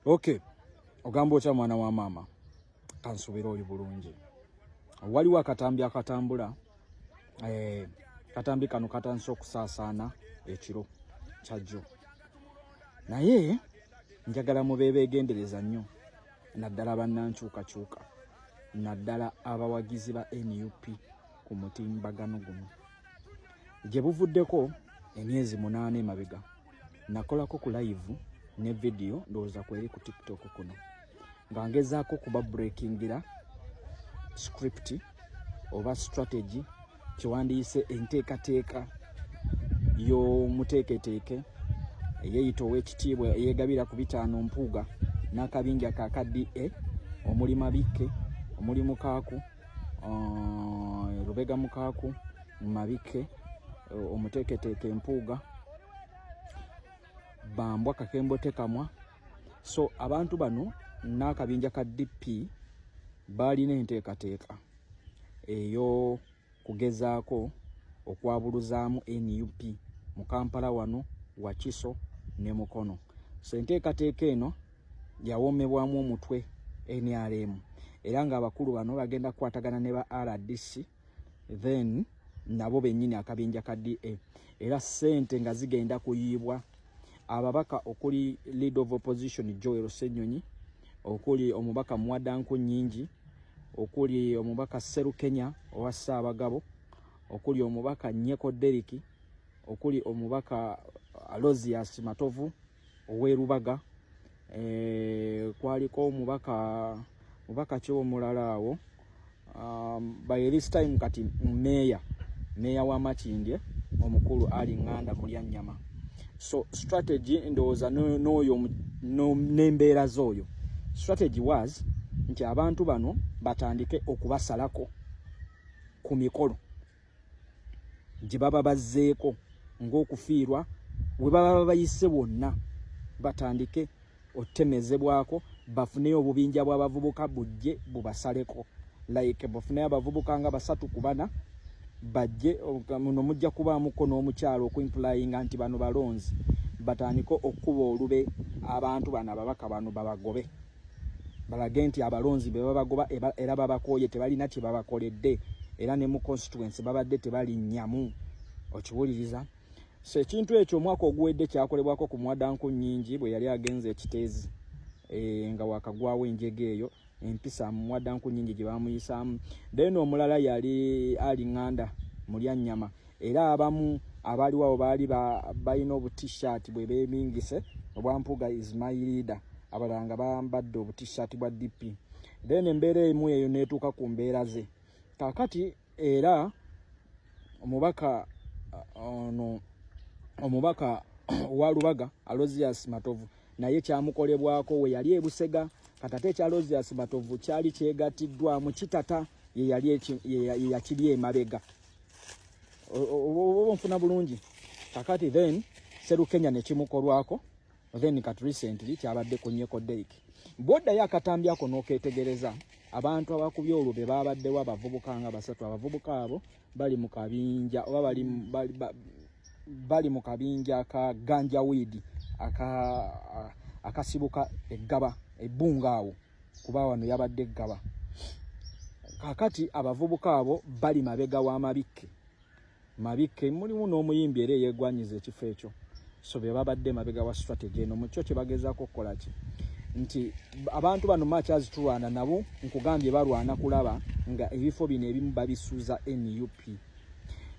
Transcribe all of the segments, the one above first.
Okay. Ogamba otya mwana wa maama? Kansubira oli bulungi. Waliwo akatambi akatambula eh, katambi kano katandise okusaasaana ekiro kyajjo. Naye njagala mubeebe egendereza nnyo naddala bannankyukakyuka naddala abawagizi ba nup ku mutimbagano guno gye buvuddeko emyezi munaana emabega nakolako ku live ne video ndowooza kweri ku tiktok kuno nga ngezaako okuba breakingira script oba strategy kyewandiyise enteekateeka y'omuteeketeeke eyeyita ow'ekitiibwa eyegabira ku bitaano mpuuga n'akabinja ka ka da omuli mabikke omuli mukaaku uh, lubega mukaaku mabikke uh, omuteeketeeke mpuuga bambwa kakembo tekamwa so abantu bano n'akabinja ka dp baalina enteekateeka eyo kugezaako okwabuluzaamu nup mu kampala wano wakiso ne mukono so enteekateeka eno yawomebwamu omutwe nrm era ng'abakulu bano bagenda kukwatagana ne ba rdc then nabo bennyini akabinja ka DA era ssente nga zigenda kuyiibwa ababaka okuli lead of opposition Joel Ssenyonyi okuli omubaka Mwadanku Nyingi okuli omubaka Serukenya owa Ssaabagabo okuli omubaka Nyeko Deriki okuli omubaka Alozias Matovu ow'e Lubaga eh, kwaliko omubaka mubaka ki omulala awo um, by this time kati meeya meeya wa Makindye omukulu Ali Nganda Mulyannyama so strategy ndowooza n'oyo n'embeera z'oyo strategy was nti abantu bano batandike okubasalako ku mikolo gye baba bazzeeko ng'okufiirwa we baba babayise wonna batandike otemezebwako bafuneyo obubinja bw'abavubuka bujje bubasaleko like bafuneyo abavubuka nga basatu ku bana bajje muno mujja kubaamuko n'omukyalo okuimpulayinga nti bano balonzi batandike okukuba olube abantu bano ababaka bano babagobe balage nti abalonzi be babagoba era babakooye tebalina kye babakoledde era ne mu constituency babadde tebalinnyamu okiwuliriza so ekintu ekyo omwaka oguwedde kyakolebwako ku mwadanku nnyingi bwe yali agenze ekiteezi e, nga wakagwawo enjega eyo empisa mu mwadanku nnyingi gye bamuyisaamu then omulala yali alinganda mulya nnyama era abamu abaaliwo awo baali balina obutishat bwe beebingise obwampuga is my leader abalala nga bambadde obutishat bwa dp then embeera emu eyo neetuuka ku mbeera ze kakati era omubaka uh, ono omubaka wa lubaga alozias matovu naye kyamukolebwako we yali ebusega katate ekya lozias matovu kyali kyegattiddwamu kitata yeyakiri emabega oba nfuna bulungi kakati then serukenya nekimukolwako then kat recently kyabadde ku nyeko dek bwoddayo akatambi ako noketegereza abantu abakubye olwo be babaddewo abavubuka nga basatu abavubuka abo bali mu kabinja oba bali, bali, bali, bali mu kabinja ka ganja widi akasibuka aka eggaba ebbunga awo kuba wano yabadde ggaba kakati abavubuka abo bali mabega wa mabikke mabikke mulimu n'omuyimbi era eyegwanyiza ekifo ekyo so be babadde mabega wa strategy eno mu kyo kye bagezaako okukola ki nti abantu bano makyazi tulwana nabo nkugambye balwana kulaba nga ebifo bino ebimu babisuuza nup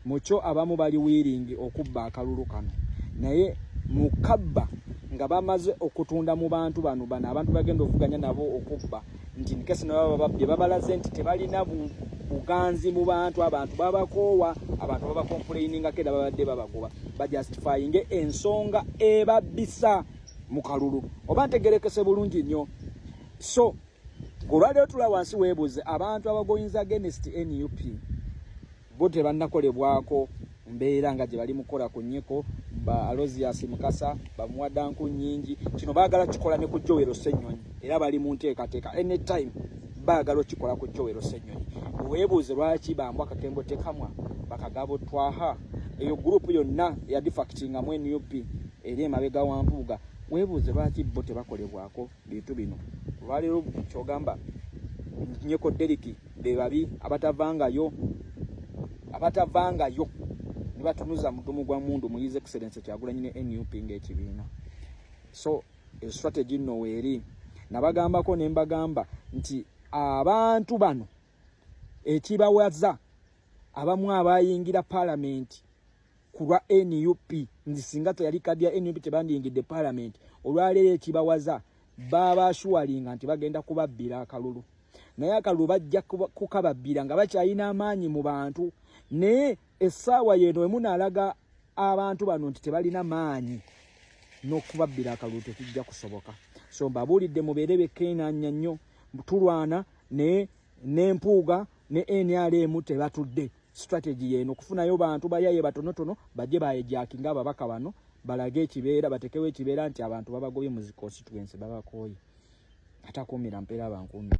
mukyo abamu bali wiringi okubba akalulu kano naye mukabba nga bamaze okutunda mu bantu bano bano abantu bagenda okuvuganya nabo okubba nti nkesi nababa babbi babalaze nti tebalina buganzi mu bantu abantu babakoowa abantu babakompulayiningako era babadde babagoba bajustifyinge ensonga ebabbisa mu kalulu oba ntegerekese bulungi nnyo so Kulwaleero tula wansi weebuuze abantu abagoyinza against nup bo tebannakolebwako mbeera nga gye bali mukola ku nyeko ba alozias mukasa bamuwadda nku nyingi kino baagala kikola ne ku jowero ssenyonyi era bali mu nteekateeka anytime baagala okikola ku jowero ssenyonyi weebuuze lwaki bambu akakembo tekamwa bakagabo twaha eyo gurupu yonna eyadifactingamu nup eri emabega wampuuga weebuuze lwaki bo tebakolebwako bintu bino olwaleero kyogamba nyeko deriki bebabi abatavangayo abatavangayo nebatunuza mudumu gwa mundu muyize excellence kyagulanyi ne nup ngaekibiina so estrategy nno weeri nabagambako nembagamba nti abantu bano ekibawaza abamu abayingira palamenti kulwa nup nzi singa teyali kadi ya nup tebandiyingidde palamenti olwaleero ekibawaza baabashuwalinga nti bagenda kubabbira akalulu naye akalulu bajja kukababbira nga bakyalina amaanyi mu bantu naye essaawa yeeno wemunaalaga abantu bano nti tebalina maanyi n'okubabbira akalulu tekijja kusoboka so mbabuulidde mubeere bekkeenanya nnyo tulwana naye n'empuuga ne nrm tebatudde strategy yeno kufunayo bantu bayaye batonotono baje baye jaki nga babaka bano balage ekibeera batekewe ekibeera nti abantu babagobye mu constituency babakoye atakumira mpera bankumi